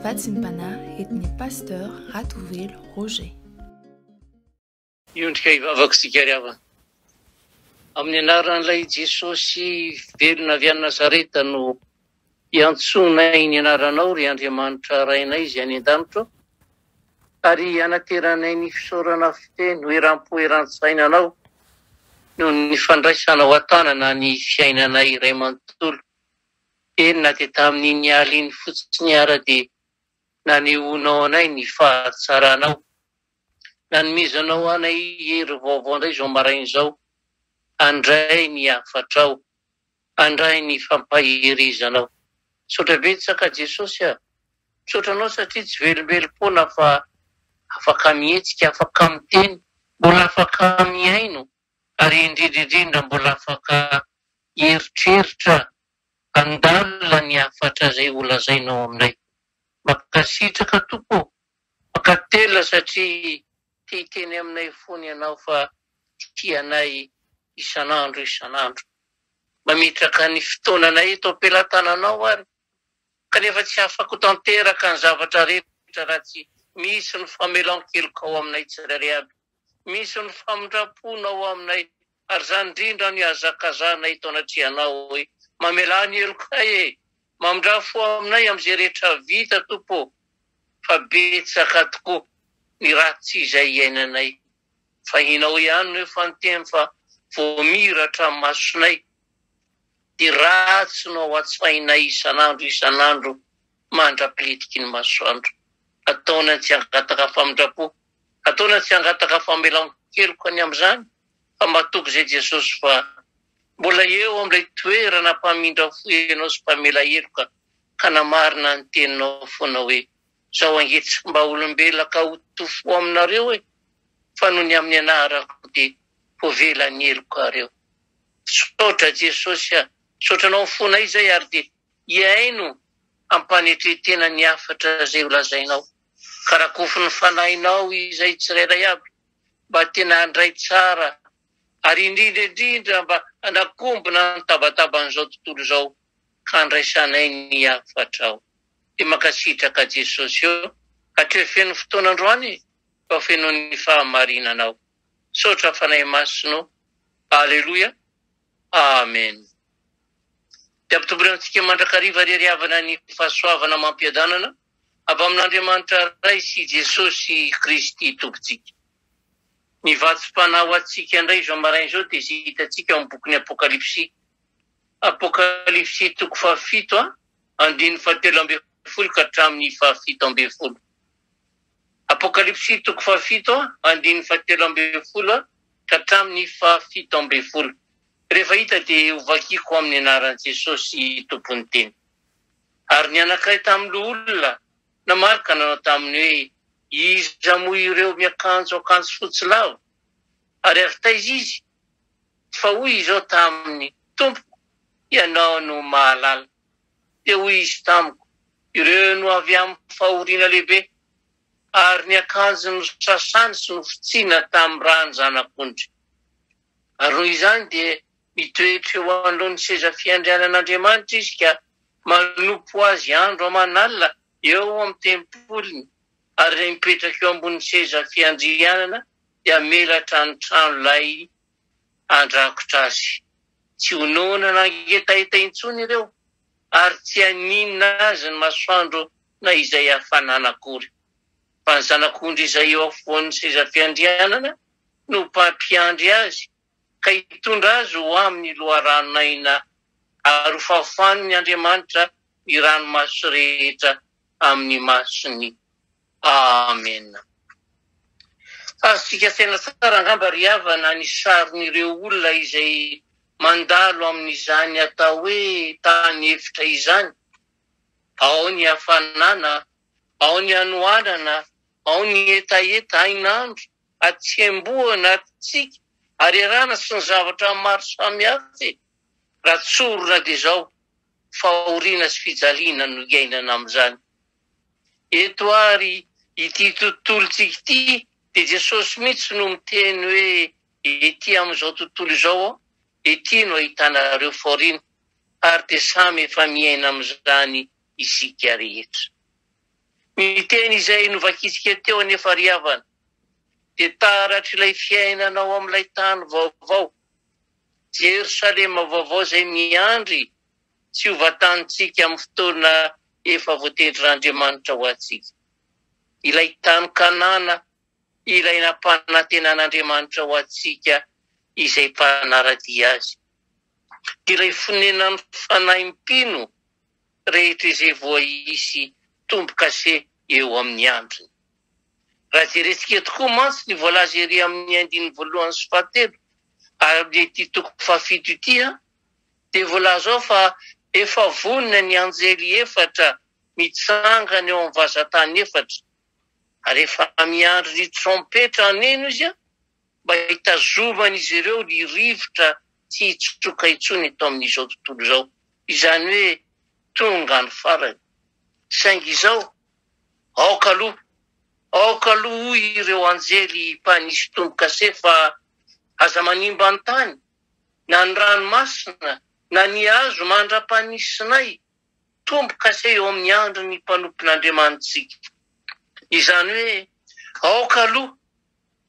Vatsim-panahy et ny Pasteur Ratovelo Roger. Miondrika hivavaka isika ry havana. Amin'ny anaran'ilay Jesosy velona avy any Nazareta no iantsoanay ny anaranao ry Andriamanitra Rainay izay any an-danitra ao, ary hanateranay ny fisaorana feno eram-po eran-tsaina anao noho ny fandraisanao an-tanana ny fiainanay iray manontolo. Eny na dia tamin'iny alina iny fotsiny ara dia nanehoanao anay ny fahatsaranao. Nanomezanao anay hery vaovao indray izao maraina izao. Andray ny hafatrao. Andray ny fampaherezanao. Misaotra betsaka Jesosy a! Misaotra anao satria tsy velombelom-poana fa afaka mihetsika, afaka miteny, mbola afaka mihaino. ary indrindra indrindra mbola afaka hieritreritra handalina ny hafatra izay ho lazainao aminay. Mankasitraka Tompo ô! Mankatelina satria te hiteny aminay fony Ianao fa tia anay isan'andro isan'andro. Mametraka ny fotoananay eto am-pelatananao ary kanefa tsy afako tanteraka ny zavatra rehetra raha tsy misy ny famelan-keloka ao aminay tsirairay aby, misy ny famindram-pona ao aminay ary izany indrindra no ihazakazanay eto anatrehanao hoe mamelà ny helokay e! mamindrà fo aminay amin'izay rehetra vita Tompo ô! fa betsaka tokoa ny ratsy izay iainanay fa ianao ihany no efa niteny fa voamiratra ny masonay Dia ratsy no ao an-tsainay isan'andro isan'andro mandra-pilitiky ny masoandro. Ataony an-tsy hangataka famindram-po, ataony an-tsy hangataka famelan-keloka ny amin'izany, fa matoky izay Jesosy fa mbola eo amin'ilay toerana mpamindra fo ianao sy mpamela heloka ka namarina ny teninao foana hoe, Zao ange tsy mba olombelona ka ho tofo aminareo e, fa noho ny amin'ny anarako dia hovela ny helokareo. Misaotra Jesosy a, misaotra anao fona izay ary dia hihaino ampanetretena ny hafatra zay ho lazainao. Ka rakofy ny fanahinao izay tsirairay aby mba tena handray tsara ary indrindra indrindra mba hanakombona ny tabataban'izao tontolo izao fandraisanay ny hafatrao. Dia mankasitraka Jesosy ô. Hatreo feno fotoana androany fa feno ny fahamarinanao. Misaotra Fanahy Masina ô. Aleloia. Amen. Dia ampitombory amintsika mandrakariva ry ry havana ny fahasoavana amam-piadanana avy amin'Andriamanitra Ray sy Jesosy Kristy Tompontsika. Ny vatsim-panahy ho antsika indray izao maraina izao dia izay hitantsika ao amin'ny bokin'ny Apokalypsy Apokalypsy toko fahafito a, andininy fahatelo ambin'ny folo ka hatramin'ny fahafito ambin'ny folo. Apokalypsy toko fahafito a, andininy fahatelo ambin'ny folo a, ka hatramin'ny fahafito ambin'ny folo. Rehefa hita dia ho vakiko amin'ny anaran'i Jesosy Tompon'ny teny. Ary ny anankiray tamin'ny loholona namaly ka nanao taminy hoe, Iza moa ireo miakanjo akanjo fotsy lava? Ary avy taiza izy? fa hoy izao taminy, Tompoko, Ianao no mahalala. Dia hoy izy tamiko, Ireo no avy amin'ny fahoriana lehibe, ary ny akanjony nosasana sy nofotsiana tamin'ny ràn'ny Zanak'ondry. Ary noho izany dia mitoetra eo anoloan'ny seza fiandrianan'Andriamanitra izy ka manompo azy andro aman'alina eo amin'ny tempoliny, ary mipetraka eo ambonin'ny seza fiandrianana dia menatra ny trano lay handrakotra azy. Tsy ho noana nangetaheta intsony ireo ary tsy haninona azy ny masoandro na izay hafanana akory. Fa ny zanak'ondry izay eo afovoan'ny sezafiandrianana no mpampiandry azy ka hitondra azy ho amin'ny loharanon'aina ary hofafaniny Andriamanitra ny ranomaso rehetra amin'ny masony. Amena. Azontsika asaina tsara angamba ry havana ny sarin'ireo olona izay mandalo amin'izany atao hoe tany efitra izany, ao ny hafanana, ao ny hanoanana, ao ny hetaheta hainandro, Atsemboho anatintsika ary erana sy ny zavatra maro samihafa e! Raha tsorina dia izao, fahoriana sy fijaliana no iainana amin'izany. Eto ary ity tontolontsika ity dia Jesosy mihitsy no miteny hoe ety amin'izao tontolo izao aho, ety no ahitanareo fahoriana, ary dia samy efa miaina amin'izany isika rehetra. Ny teny izay novakitsika teo anefa ry havana dia taratr'ilay fiainana ao amin'ilay tany vaovao, Jerosalema vaovao izay miandry tsy ho vatanintsika amin'ny fotoana efa voatendrin'Andriamanitra ho antsika. Ilay tany Kanana ilay nampanantenan'Andriamanitra ho antsika izay mpanara-dia azy. Ilay fonenan'ny fanahy mpino rehetra izay voaisy tombo-kase eo amin'ny androny. Raha jerentsika eto koa mantsy ny voalaza ery amin'ny andininy voalohany sy fahatelo ary amin'ity toko fahafito ity dia voalaza ao fa efa vonona ny anjely efatra mitsangana eo amin'ny vazan-tany efatra ary efa miandry ny trompetra haneno izy mba hitazoman'izy ireo ny rivotra tsy hitsoka intsony eto amin'izao tontolo izao, izany hoe tonga ny farany. Saingy izao, aoka aloha, aoka aloha hoy ireo anjely mpanisy tombo-kase fa aza manimba ny tany, na ny ranomasina, na ny hazo mandra-panisinay tombo-kase eo amin'ny andron'ny mpanompon'Andriamanitsika. Izany hoe aoka aloha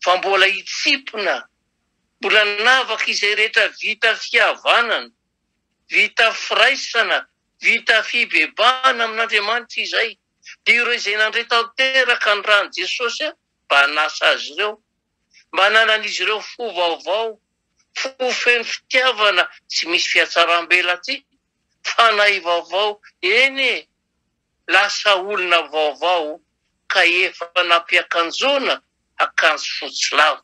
fa mbola hitsipona, mbola hanavaka izay rehetra vita fihavanana, vita firaisana, vita fibebahana amin'Andriamanitra izay, dia ireo izay nandre tanteraka ny ran'i Jesosy mba hanasa azy ireo, mba hananan'izy ireo fo vaovao, fo feno fitiavana sy misy fihatsaram-belatsihy, fanahy vaovao, eny e, lasa olona vaovao ka efa nampiakanjoana akanjo fotsy lava.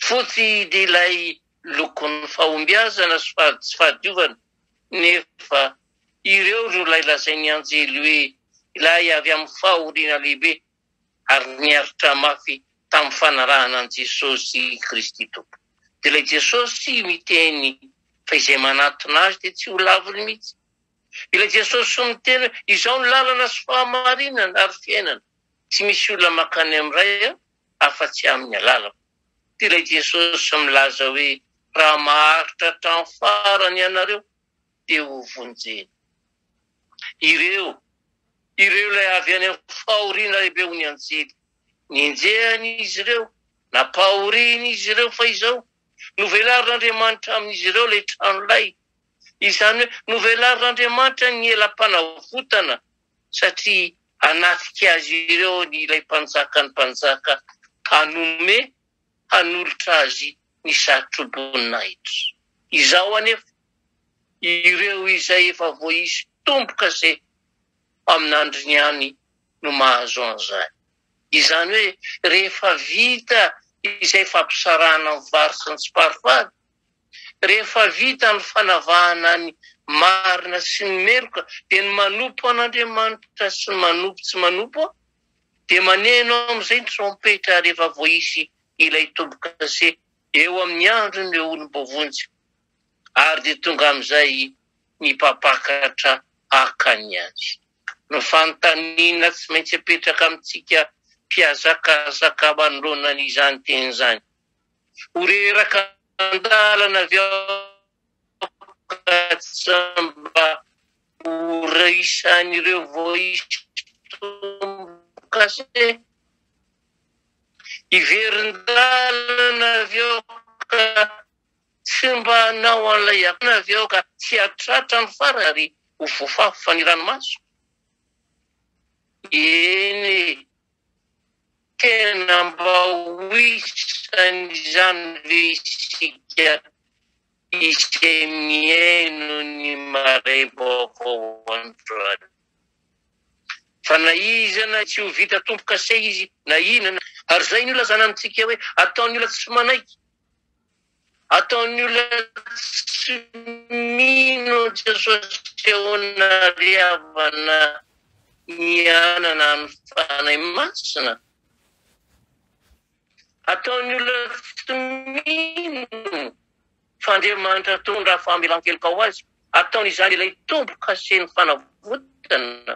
Fotsy ilay lokon'ny fahombiazana sy tsy fahadiovana nefa ireo ry ilay lazain'ny anjely hoe ilay avy amin'ny fahoriana lehibe ary niaritra mafy tamin'ny fanarahana an'i Jesosy Kristy Tompo. Dia ilay Jesosy miteny fa izay manatona Azy dia tsy ho laviny mihitsy. Ilay Jesosy miteny hoe izaho no lalana sy fahamarinana ary fiainana, tsy misy olona mankany amin'ny Ray afa-tsy amin'ny alalako. Dia ilay Jesosy milaza hoe raha maharitra hatramin'ny farany ianareo dia ho vonjena. Ireo, ireo ilay avy any amin'ny fahoriana lehibe ho ny anjely. Nenjehany izy ireo, nampahoriny izy ireo fa izao, novelarin'Andriamanitra amin'izy ireo ilay trano lay Izany hoe novelarin'Andriamanitra ny elam-panavotana satria hanatrika azy ireo ilay Mpanjakan'ny mpanjaka hanome hanolotra azy ny satroboninahitra. Izao anefa, ireo izay efa voaisy tomboka sy amin'andriny ihany no mahazo an'izany. Izany hoe rehefa vita izay fampisarahana ny vary sy ny tsiparifary Rehefa vita ny fanavahana ny marina sy ny meloka dia ny manompo an'Andriamanitra sy ny manompo tsy manompo dia maneno amin'izay ny trompetra rehefa voaisy ilay tombo-kase eo amin'ny andron'ireo olom-boavonjy ary dia tonga amin'izay ny mpampakatra haka ny azy. Ny fanontaniana tsy maintsy apetraka amintsika mpihazakazaka manoloana an'izany teny izany Ho reraka an-dalana avy ao ka tsy mba ho raisan'ireo voaistom-boka se. Hiverin-dalana avy ao ka tsy mba hanao an'ilay akona avy ao ka tsy hahatratra ny farany ary ho voafafa ny ranomaso. Eny e! Tena mba ho isan' izany ve isika izay mihaino ny maray vaovao androany? Fa na iza na iza tsy ho vita tompo-kase izy na inona na. Ary izay no ilazana amintsika hoe ataon'ny olona tsy manaiky. Ataon'ny olona tsy mino an'i Jesosy Feona ry havana mianana ny Fanahy Masina. Ataon'ny olona tsy mino fa Andriamanitra toa ny raha famelan-keloka ho azy. Ataon'izany ilay tombo-kase ny fanavotana.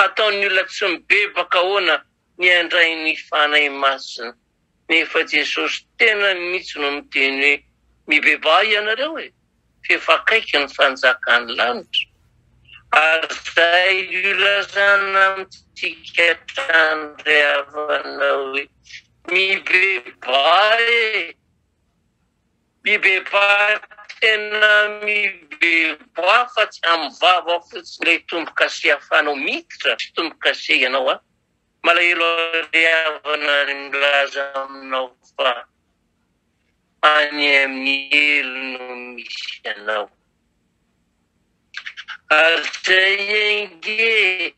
Ataon'ny olona tsy mibebaka ahoana ny handray ny Fanahy Masina. Nefa Jesosy tenany mihitsy no miteny hoe mibebaha ianareo e, f'efa akaiky ny fanjakan'ny lanitra. Ary izay ilazana amintsika hatrany ry havana hoe mibebaha e, mibebaha tena mibebaha fa tsy amin'ny vava fotsiny ilay tombo-kase ahafahanao miditra sy tombo-kase ianao an, Malahelo ary havana ary milaza aminao fa any amin'ny helo no misy anao. Ary izay ange,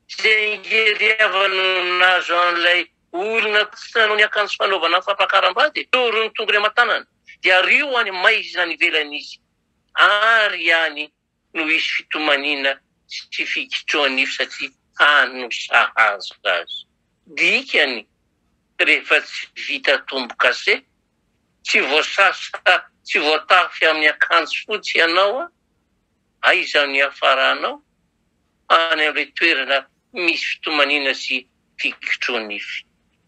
izay ange ry havana no nahazo an'ilay olona tsy nanao ny akanjo fanaovana fampakaram-bady e! Toro ny tongony aman-tanany dia ario any maiza any ivelany izy ary any. no hisy fitomaniana sy fikitrohan'ify satria hany no sahaza azy. Dikany, rehefa tsy vita tombo-kase, tsy voasasa, tsy voatafy amin'ny akanjo fotsy ianao, aiza no hiafaranao? Any amin'ilay toerana misy fitomaniana sy fikitrohan'ify.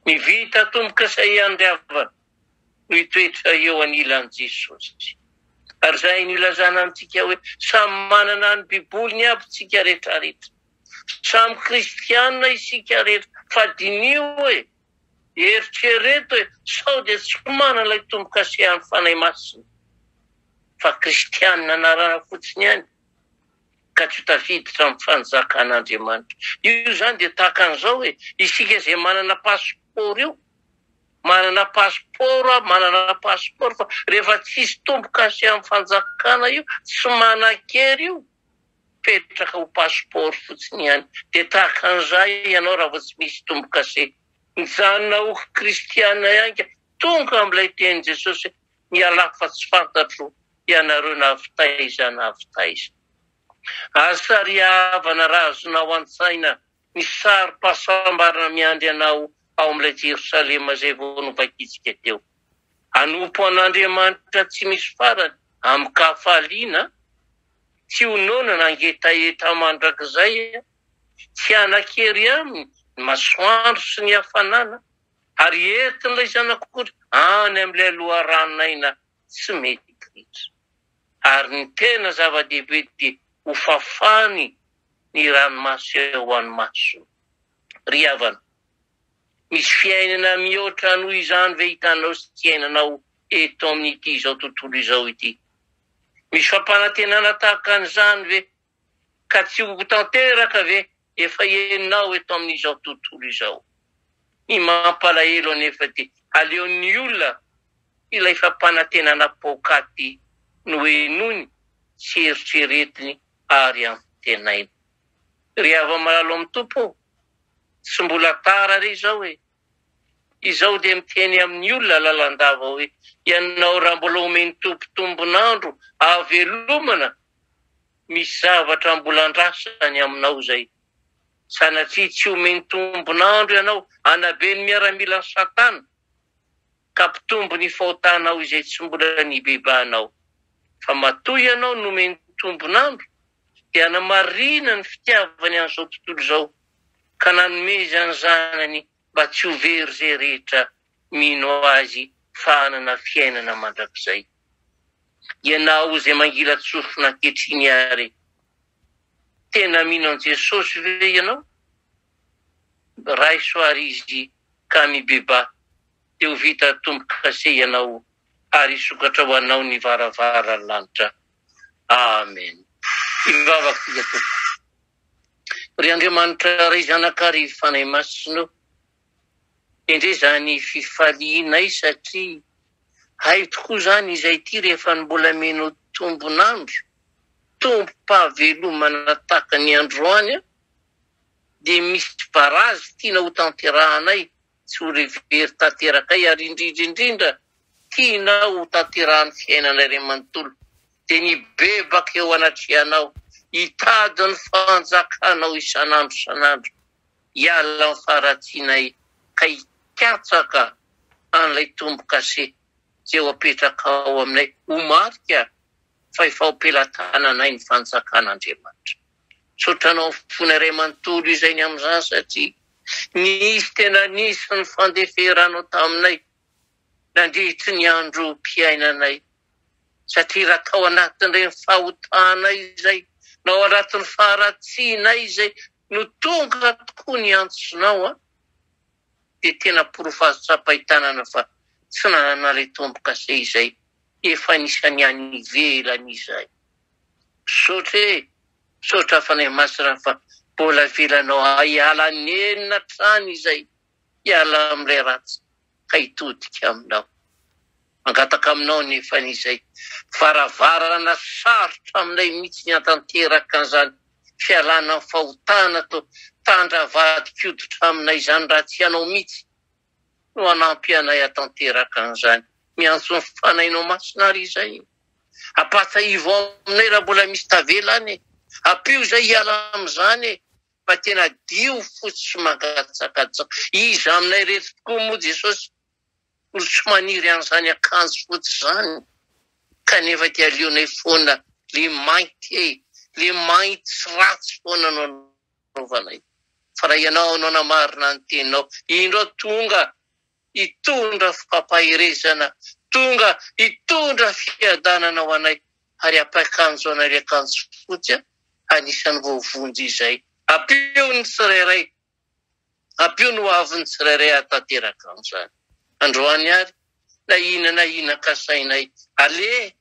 Ny vita tombo-kase iandrava mitoetra eo anilan'i Jesosy. Ary izay no ilazana amintsika hoe samy manana ny Biboliny aby tsika retraretra. Samy kristianina isika rehetra fa diniho hoe, eritrereto hoe sao dia tsy manana ilay tombo-kasehan'ny Fanahy Masina fa kristianina anarana fotsiny ihany ka tsy ho tafiditra amin'ny fanjakan'Andriamanitra. Io izany dia tahaka an'izao hoe isika izay manana pasipaoro io manana passeport a, manana passeport fa rehefa tsisy tombo kase am fanjakana io tsy manankery io mipetraka ho passeport fotsiny ihany de tahaka an'izay ianao raha vao tsy misy tombo kase mijanona ho kristiana ihany ka tonga amin'ilay tenin'i Jesosy hoe mialà fa tsy fantatro ianareo na avy taiza na avy taiza. Aza sary havana raha azonao an-tsaina Misy sarim-pahasambarana miandry anao ao amin'ilay Jerosalema izay vao novakitsika teo. Hanompo an'Andriamanitra tsy misy farany amin-kahafaliana, tsy ho noana na ngetaheta mandrakizay, tsy hanan-kery aminy ny masoandro sy ny hafanana, ary entin'ilay Zanak'ondry any amin'ilay loharanon'aina tsy mety ritra. Ary ny tena zava-dehibe dia ho fafany ny ranomaso eo amin'ny masony. Ry havana, misy fiainana mihoatra noho izany ve hitanao sy hiainanao eto amin'ity izao tontolo izao ity? Misy fampanantenana tahaka an'izany ve Ka tsy ho tanteraka ve efa enao eto amin'izao tontolo izao? Ny mampalahelo anefa dia aleon'ny olona ilay fampanantenana paokaty nohenoiny sy eritreretiny ary antenainy. Ry hava-malalo amin'ny Tompo ô, tsy mbola tara re izao e! Izaho dia miteny amin'ny olona lalandava hoe, ianao raha mbola omen'ny Tompo tombon'andro ahavelomana misy zavatra mbola andrasany aminao izay. Sanatria tsy omeny tombon'andro ianao hanabe ny miaramilan'i Satana, ka hampitombo ny fahotanao izay tsy mbola nibebahanao. Fa matoa ianao nomeny tombon'andro, dia hanamarina ny fitiavany an'izao tontolo izao, ka nanomezany Zanany mba tsy ho very izay rehetra mino Azy fa hanana fiainana mandrakizay. Ianao izay mangilan-tsofina ankehitriny ary, tena mino an'i Jesosy ve ianao? Raiso àry Izy ka mibebaha, dia ho vita tombo-kase ianao ary hisokatra ho anao ny varavaran'ny lanitra. Amen. Hivavaka isika, Tompo. Ry Andriamanitra Ray, Zanaka ary Fanahy Masina ô, Indrindra izany fifalianay satria hay tokoa izany izay ity rehefa mbola mino tombon'andro, tombom-pahavelomana tahaka ny androany dia misy barazy tiana ho tanterahanay sy ho revery tanterakay ary indrindra indrindra tiana ho tanterahan'ny fiainanay ray manontolo dia ny bebaka eo anatrehanao hitady ny fanjakanao isan'andro isan'andro hiala amin'ny faharatsianay ka hikatsaka an'ilay tombo-kase izay ho apetrakao aminay ho marika fa efa ao am-pelatananay ny fanjakan'Andriamanitra. Misaotra anao amin'ny fona iray manontolo izay ny amin'izany satria nisy tena nisy ny fandeferanao taminay nandritry ny androm-piainanay satria raha tao anatin'ireny fahotanay izay na ao anatin'ny faharatsianay izay No tonga tokoa ny antsonao an! Dia tena porofo azo tsapain-tanana fa tsy nanan'ilay tombokase izay efa anisan'ny any ivelany izay. Misaotra e! Misaotra Fanahy Masina fa mbola avelanao hiala nenina hatrany izay Hiala amin'ilay ratsy ka hitodika aminao. Mangataka aminao anefa ny izay varavarana sarotra aminay mihitsy ny hantanteraka an'izany fialana amin'ny fahotana toa tandra avadin-koditra aminay izany raha tsy ianao mihitsy no hanampy anay hatanteraka an'izany. Miantso ny Fanahinao Masina ary izay. Ampahatsiahivo aminay raha mbola misy tavela any e. Ampio izay hiala amin'izany e. fa tena dio fotsy sy mangatsakatsaka. Iza aminay rehetra tokoa moa Jesosy no tsy maniry an'izany akanjo fotsy izany? Kanefa dia aleonay foana le mainty e, le mainty sy ratsy foana no anaovanay. Fa raha ianao no hanamarina ny teninao, indro aho tonga. hitondra fampaherezana, tonga hitondra fiadanana ho anay, ary hapa akanjo anay ilay akanjo fotsy anisan'ny voavonjy izay. Ampio ny tsirairay, ampio ny hoavin'ny tsirairay hahatanteraka an'izany. Androany ary, na inona na inona kasainay, aleha,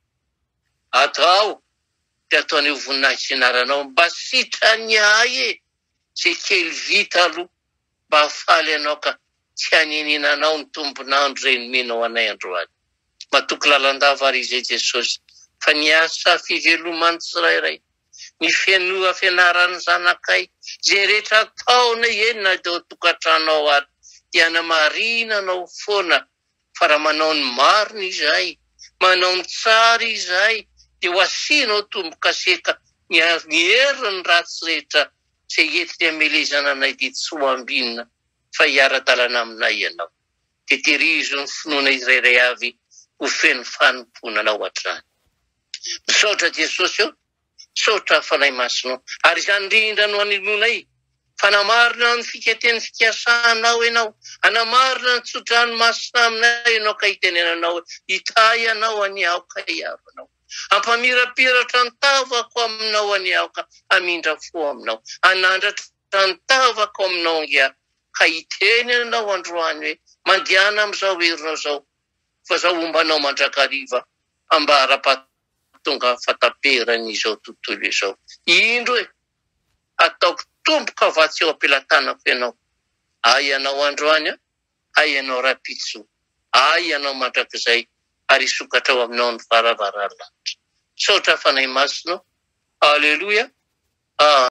atao, dia atao an'io voninahitry ny anaranao, mba sitran'ny ahy e, izay kely vita aloha. Mba faly anao ka tsy haniniana anao ny tombon'andro reny mino anay androany matoky lalandava ary izay Jesosy fa ny asa fiveloman'ny tsirairay ny fenoa fianaran'ny zanakay izay rehetra ataonay eny na teo tokantrano ao ary dia hanamarina anao foana fa raha manao ny marina izahay, manao ny tsara izahay dia ho asianao tombo-kaseta miaro ny hery ny ratsy rehetra izay entiny hamelezana anay dia tsy ho ambinina fa hiara-dalana aminay ianao dia terizo ny finoana izrairay avy ho feno fanompoana anao hatrany. Misaotra Jesosy ô! Misaotra Fanahy Masina ô. Ary izany indrindra no hanehoanay fa namarina ny fikaten'ny fikasanao ianao, hanamarina ny tso-drano masina aminay ianao ka hitenenanao hoe, Hitahy anao anie aho ka hiaro anao. Hampamirapiratra ny tavako aminao anie aho ka hamindra fo aminao. Hanandratra ny tavako aminao ange aho ka hiteny anao androany hoe, Mandehana amin'izao herinao izao fa izaho homba anao mandrakariva ambara-pahatongavanao. Mahatonga fataperan izao tontolo izao. Indro e! Hataoko tomboka vatsy eo am-pelatanako ianao. Ahy ianao androany an! Ahy ianao rahampitso! Ahy ianao mandrakizay! Ary hisokatrao aminao ny varavaran'ny lanitra. Misaotra Fanahy Masina o! Aleloia! Ah!